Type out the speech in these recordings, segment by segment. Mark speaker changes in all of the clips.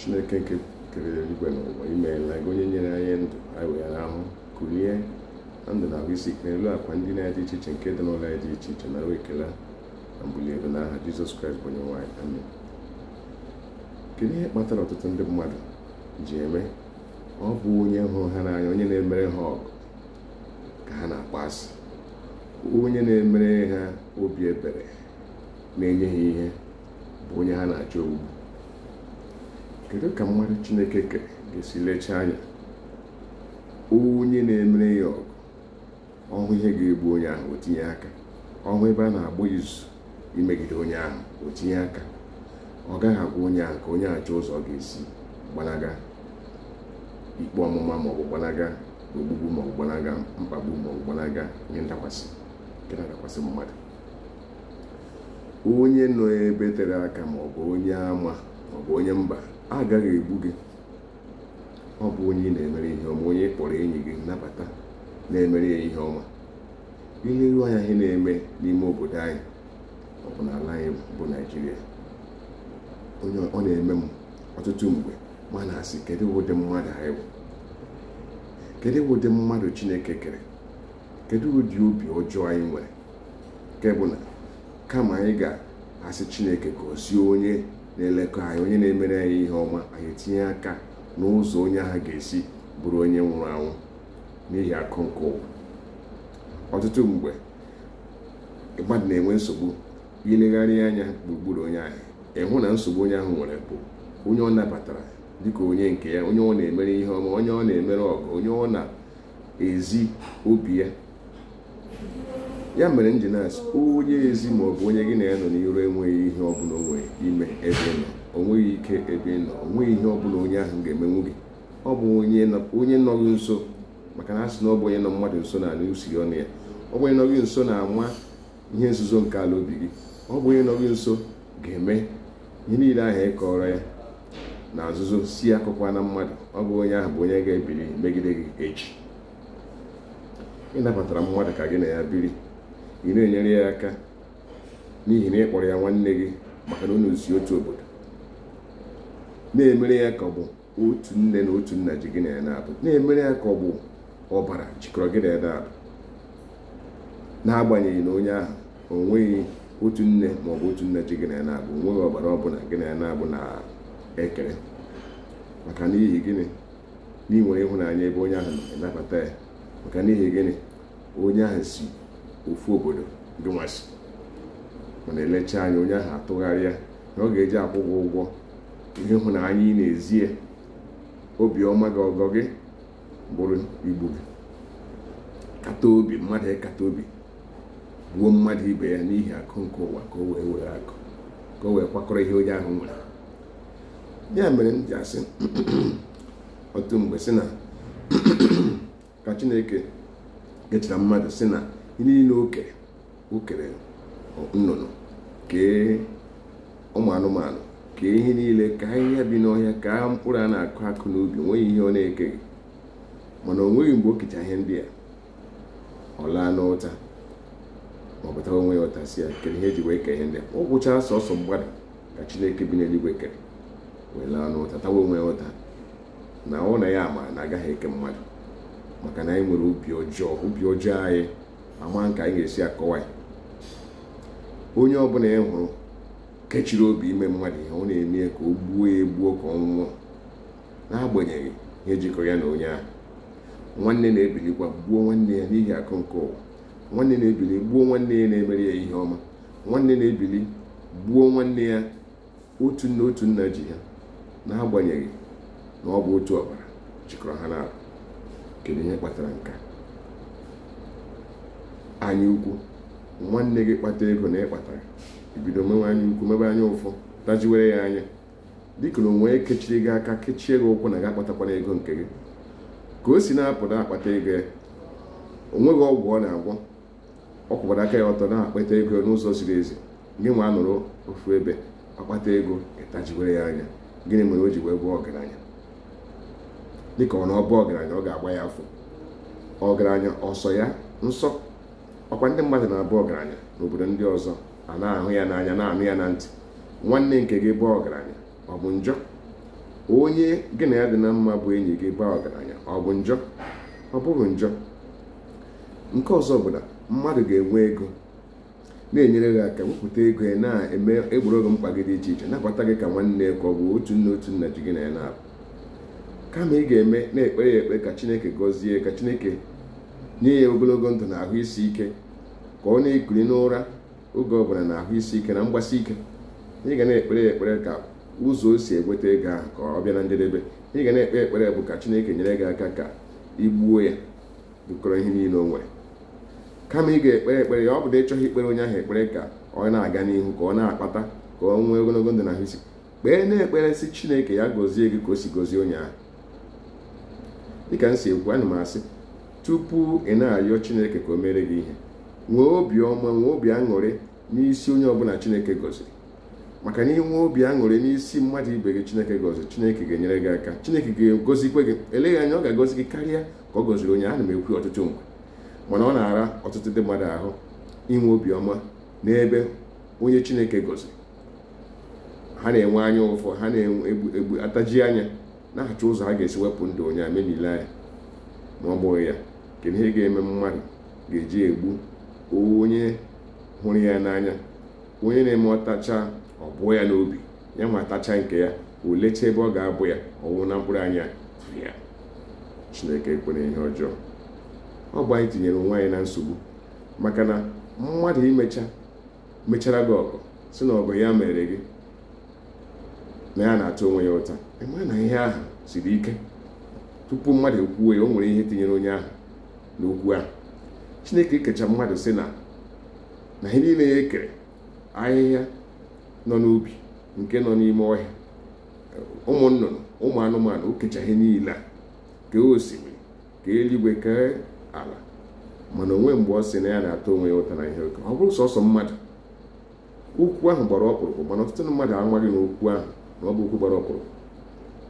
Speaker 1: chineke nke kere eluigwe na ụwa imeela gị onye nyere anyị ndụ anyị wee rahụ kulie na ndụ na ahụ isi ike n'elu akwa ndina dị iche iche nke dị n'ụlọ anyị dị iche iche nara ekele na mbuli elu na aha jizọs kraịst bụ onye nwe anyị amen kedu ihe kpatara ọtụtụ ndị mmadụ ji eme ọ bụ onye hụrụ ha n'anya onye na-emere ha ọgọ ka ha na-akpọ asị onye na-emere ha obi ebere na-enye ha ihe bụ onye ha na-achọ ogbugbu kedu ka mmadụ chineke kere ga-esi lechaa anya onye na-emere ya ọgọ ọ hụ ihe ga-egbu onye ahụ o tinye aka ọ hụ ebe a na-agba izu imegide onye ahụ o tinye aka ọ gaghị agwa onye ahụ ka onye ahụ chọọ ụzọ ọ ga-esi gbanaga ikpe ọmụma maọbụ gbanaga ogbugbu maọbụ gbanaga mkpagbu maọbụ gbanaga ihe ndakwasị nke na-adakwasị mmadụ onye nọ ebe tere aka ma ọ bụ onye ama ma ọ bụ onye mba agaghị egbu gị ọ bụ onye ị na-emere ihe ọma onye ị kpọrọ enyi gị nabata na-emere ya ihe ọma i leru anya ihe na-eme n'ime obodo anyị ọ bụ n'ala anyị bụ naijiria ọ na-eme m ọtụtụ mgbe m ana-asị kedu ụdị mmadụ anyị bụ kedu ụdị mmadụ chineke kere kedu ụdị obi ọjọọ anyị nwere nke bụ na kama anyị ga-asị chineke gọzie onye na-elekọ anyị onye na-emere anyị ihe ọma anyị etinye aka n'ụzọ onye ahụ ga-esi bụrụ onye nwụrụ anwụ n'ihi akụ nke ụwa ọtụtụ mgbe mmadụ na-enwe nsogbu i legharịa anya gburugburu onye ahụ ị hụ na nsogbu onye ahụ nwere bụ onye ọ nabatara dịka onye nke ya onye ọ na-emere ihe ọma onye ọ na-emere ọgọ onye ọ na ezi obi ya ya mere m ji na-asị onye ezi ma ọ bụ onye gị na ya nọ n'iro enweghị ihe ọ bụla o nwe ime ebe ị nọ o nweghị ike ebe ị nọ o nweghị ihe ọ bụla onye ahụ ga-emenwu gị ọ bụ onye nọ gị nso maka na a sị na ọ bụ onye nọ mmadụ nso na-anụ usi ọnụ ya ọ bụ onye nọ gị nso na-ama ihe nzuzo nke ala obi gị ọ bụ onye nọ gị nso ga-eme ihe niile ahụ ị kọọrọ ya na nzuzo sị akọkwana mmadụ ọ bụ onye ahụ bụ onye ga-ebiri megide gị echi ị nabatara mmadụ ka gị na ya biri ị na-enyere ya aka n'ihi na ị kpọrọ ya nwanne gị maka na unu si otu obodo na-emere ya ka ọ bụ otu nne na otu nna ji gị na ya naabọ na-emere ya ka ọ bụ ọbara jikọrọ gị na ya naabọ n'agbanyeghị na onye ahụ o nweghị otu nne ma ọ bụ otu nna ji gị na ya naabọ o nweghị ọbara ọbụla gị na ya naabọ na ekere maka n'ihi gịnị n'ihi i nwere ịhụnanya ebe onye ahụ nọ nabata ya maka n'ihi gịnị onye ahụ si ofu obodo gị nwa si mana elechaa anya onye ahụ atụgharịa na ọ ga-eji akwụ gị ụgwọ ihe ịhụnanya ị na-ezi ya obiọma gị ọgọ gị bụrụ igbu gị kata obi mmadụ ịkata obi gbuo mmadụ ibe ya n'ihi akụ nke ụwa ka o wee were akụ ka o wee kwakọrọ ihe onye ahụ nwere ya mere m ji asị otu mgbe sị na ka chineke kechara mmadụ sị na ihe niile o kere o kere nnụnụ kee ụmụ anụmanụ kee ihe niile ka ahịhịa bi n'ọhịa ka mkpụrụ a na-akụ akụ n'ubi o nweghị ihe ọ na-ekeghị mana o nweghị mgbe o kecha ihe ndị a ọ laa n'ụta ma ọ bụ tawa onwe ya ụta sị ya kedu ihe o ji wee kee ihe ndị a o kechara sọsọ mmadụ ka chineke bi n'eluigwe kere wee laa n'ụta tawa onwe ya ụta na ọ na ya ma na agaghị eke mmadụ maka na anyị nwere obi ọjọọ obi ọjọọ anyị amaghị ka anyị ga-esi akọwa ya onye ọbụla ị hụrụ kechiri obi ime mmadụ ihe ọ na-eme ya ka o gbuo ya egbuo ka ọ nwụọ n'agbanyeghị ihe jikọ ya na onye ahụ nwanne na-ebilikwa gbuo nwanne ya n'ihi akụ nke ụwa nwanne na-ebili gbuo nwanne ya na-emere ya ihe ọma nwanne na-ebili gbuo nwanne ya otu nna otu nna ji ha n'agbanyeghị na ọ bụ otu ọbara jikọrọ ha naabọ kedu ihe kpatara nke a anya ukwu nwanne gị kpata ego na ị kpatara i bido mewe anya ukwu mebe anya ụfụ tajiwere ya anya dịka na o nwe kechiri gị aka kechie gị ụkwụ na gị akpatakwana ego nke gị ka o si na-apụta akpata ego ya o nweghị ọgwụ ọ na-agwọ ọ kwụkwara aka ya ọtọ na-akpata ego n'ụzọ ziri ezi gị nwa nọrọ ofu ebe ọ kpata ego ị tajiwere ya anya gịnị mere o ji wee bụrụ ọgaranya dịka ọ na ọ bụ ọgaranya ọ ga-agba ya afọ ọgaranya ọ sọ ya nsọ ọ kwa ndị mmadụ na-abụ ọgaranya n'obodo ndị ọzọ a na-ahụ ya n'anya na-anụ ya na ntị nwanne nke gị baa ọgaranya ọ bụ njọ onye gị na ya dị na mma bụ enyi gị baa ọgaranya ọ bụ njọ ọ bụghị njọ nke ọzọ bụ na mmadụ ga-enwe ego na-enyere gị aka wepụta ego ya na-egboro gị mkpa gị dị iche iche nabata gị ka nwanne ka ọ bụ otu nne otu nna ji gị na ya na-abụ kama ị ga-eme na-ekpere ya ekpe ka chineke gọzie ka chineke nye ya ogologo ndụ na ahụ isi ike ka ọ na-ekuli n'ụra oge ọbụla na ahụ isi ike na mgbasi ike ị ga na-ekpere ya ekpere ka ụzọ o si enweta ego ahụ ka ọ bịa na njedebe ị ga na-ekpe ekpere bụ ka chineke nyere gị aka ka i gbuo ya dụkọrọ ihe niile o nwere kama ị ga-ekpere ekpere ya ọ bụrụ na ị chọghị ikpere onye ahụ ekpere ka ọ na-aga n'ihu ka ọ na-akpata ka ọ nwee ogologo ndụ na ahụ isi kpee na-ekpere sị chineke ya gọzie gị ka o si gọzie onye ahụ dịka m si ekwu ana m asị tupu ị na-arịọ chineke ka o mere gị ihe nwee obi ọma nwee obi aṅụrị n'isi onye ọbụla chineke gọziri maka na i nwee obi aṅụrị n'isi mmadụ ibe gị chineke gọziri chineke ga-enyere gị aka chineke ga-agọzikwa gị eleghị anya ọ ga-agọzi gị karịa ka ọ gọziri onye ana m ekwu ọtụtụ mgbe mana ọ na-ara ọtụtụ ndị mmadụ ahụ inwe obiọma n'ebe onye chineke gọziri ha na-enwe anya ụfụ ha na-egbu ntaji anya na-achọ ụzọ ha ga-esi wepụ ndụ onye amemile anya ma ọ bụghị ya kedu ihe ga-eme mmadụ ga-eji egbu onye hụrụ ya n'anya onye na-eme ọ tachaa ọ bụọ ya n'obi ya nwa tachaa nke ya o lechaa ebe ọ ga-abụ ya ọ wụ na mkpụrụ anya ya chineke ekwela ihe ọjọọ ọ bụ anyị tinyere onwe anyị na nsogbu maka na mmadụ imecha mechara gị ọgọ sị na ọgọ ya meere gị na ya na-ata onwe ya ụta ị ma na ihe ahụ siri ike tupu mmadụ ekwuwe ya o nwere ihe tinyere onye ahụ n'okwu ahụ chineke kecha mmadụ sị na na ihe niile ya ekere ahịhịa nọ n'ubi nke nọ n'ime ọhịa ụmụ nnụnụ ụmụ anụmanụ o kecha ihe niile a kee osimiri kee eluigwe kee ala mana o nweghị mgbe ọ sị na ya na-ata onwe ya ụta na ihe o kere ọ bụrụ sọsọ mmadụ okwu ahụ gbara ọkpụrụkpụ mana ọtụtụ mmadụ amaghị na okwu ahụ na ọ bụ okwu gbara ọkpụrụkpụ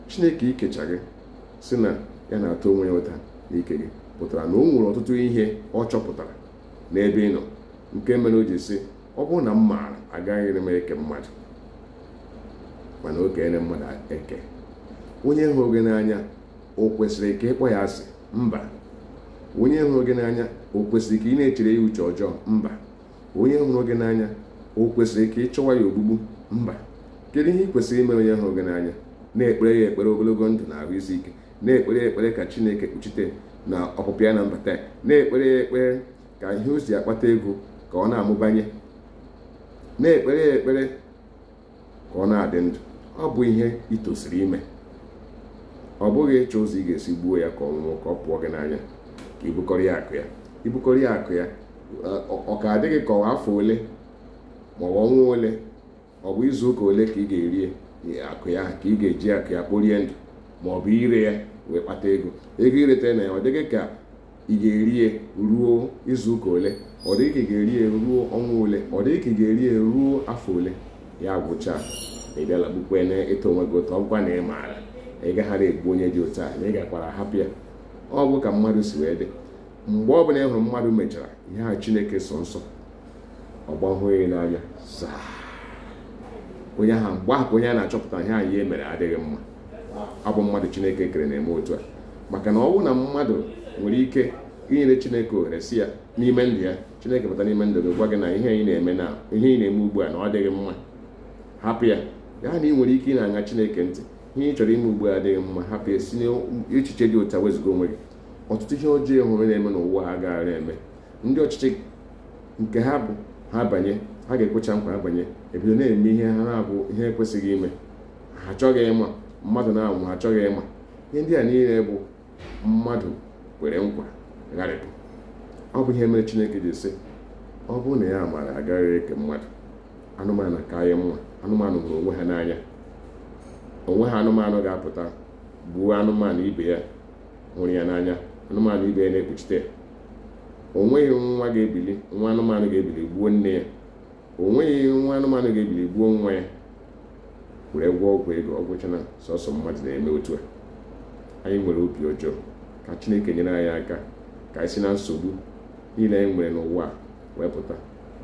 Speaker 1: chineke ikecha gị sị na ya na-ata onwe ya ụta na ike gị pụtara na o nwere ọtụtụ ihe ọ chọpụtara n'ebe ị nọ nke mere o ji sị ọ bụrụ na m maara agaghị m eke mmadụ mana o keela mmadụ eke onye hụrụ gị n'anya o kwesịrị ka ị kpọọ ya asị mba onye hụrụ gị n'anya o kwesịrị ka ị na-echere ya uche ọjọọ mba onye hụrụ gị n'anya o kwesịrị ka ị chọwa ya ogbugbu mba kedu ihe ị kwesịrị imere onye hụrụ gị n'anya na-ekpere ya ekpere ogologo ndụ na ahụ isi ike na-ekpere ya ekpere ka chineke kpuchite na ọpụpụ ya na mbata ya na-ekpere ya ekpere ka ihe o si akpata ego ka ọ na-amụbanye na-ekpere ya ekpere ka ọ na-adị ndụ ọ bụ ihe ị tosiri ime ọ bụghị ịchọ ụzọ ị ga-esi gbuo ya ka ọ nwụọ ka ọ pụọ gị n'anya ka i bukọrọ ya akụ ya i bukọrọ ya akụ ya ọ ka adị gị ka ọ bụ afọ ole ma ọ bụ ọnwa ole ọ bụ izu ụka ole ka ị ga-erie akụ ya ka ị ga-eji akụ ya kporie ndụ ma ọ bụ ire ya wee kpata ego ego ị ga-ereta na ya ọ dị gị ka ị ga-eri ya ruo izu ụka ole ọ dị ka ị ga-eri ya ruo ọnwa ole ọ dị ka ị ga-eri ya ruo afọ ole ya agwụchaa ị bịala kpukpe na-ata onwe gị ụta ọ wụ na ị maara ị gaghara egbu onye dị otu a na ị gakwara hapụ ya ọ bụ ka mmadụ si wee dị mgbe ọ bụla ị hụrụ mmadụ mechara ihe a chineke sọ nsọ ọ gbanweghị n'anya onye ahụ mgbe ahụ onye a na-achọpụta ihe ya mere adịghị mma ọ bụ mmadụ chineke kere na-eme otu a maka na ọ bụrụ na mmadụ nwere ike inyere chineke ohere si ya n'ime ndụ ya chineke bata n'ime ndụ gị gwa gị na ihe ị na-eme na ihe ị na-eme ugbu a na ọ dịghị mma hapụ ya ya na ị nwere ike ị na-aṅa chineke ntị ihe ị chọrọ ime ugbu a adịghị mma hapụ ya si n'echiche dị otu a wezụga onwe gị ọtụtụ ihe ọjọọ ị hụrụ na-eme n'ụwa agaghara eme ndị ọchịchị nke ha bụ ha banye ha ga-ekwecha nkwa ha banye ebido na-eme ihe ha na-abụ ihe ekwesịghị ime ha achọghị ịma mmadụ na-anwụ ha achọghị ịma ihe ndị a niile bụ mmadụ kwere nkwa gharịpụ ọ bụ ihe mere chineke ji sị ọ bụrụ na ya maara agaghị eke mmadụ anụmanụ ka anyị mma anụmanụ hụrụ onwe ha n'anya o nweghị anụmanụ ga-apụta gbuo anụmanụ ibe ya hụrụ ya n'anya anụmanụ ibe ya na-ekpuchite ya o nweghị nwa ga-ebili nwa anụmanụ ga-ebili gbuo nne ya o nweghị nwa anụmanụ ga-ebili gbuo nwa ya were gwọọ ọgwụ ego ọ gwụchana sọsọ mmadụ na-eme otu a anyị nwere obi ọjọọ ka chineke nyere anyị aka ka anyị si na nsogbu niile anyị nwere n'ụwa wee pụta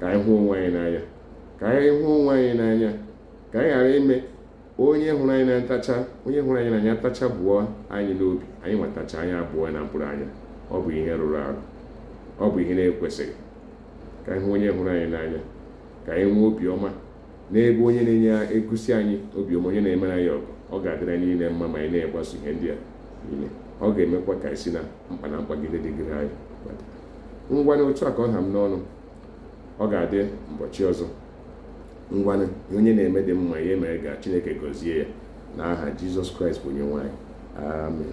Speaker 1: ka anyị hụ onwe anyị n'anya ka anyị hụ onwe anyị n'anya ka anyị ghara ime onye hụrụ anyị na-atacha onye hụrụ anyị n'anya tacha bụọ anyị n'obi anyị nwa atacha anyị abụọ na mkpụrụ anya ọ bụ ihe rụrụ arụ ọ bụ ihe na-ekwesịghị ka anyị hụ onye hụrụ anyị n'anya ka anyị nwee obiọma n'ebe onye na-egosi anyị obiọma onye na-emere anyị ọgọ ọ ga-adịrị anyị niile mma ma anyị na-egbaso ihe ndị a niile ọ ga-emekwa ka anyị si na mkpa na mkpagide dịgide anyị ngwanụ otu a ka ọ ha m n'ọnụ ọ ga-adị mbọchị ọzọ ngwanụ onye na-eme ihe dị mma ya mere gaa Chineke gọzie ya n'aha Jizọs Kraịst bụ onyenwe anyị amen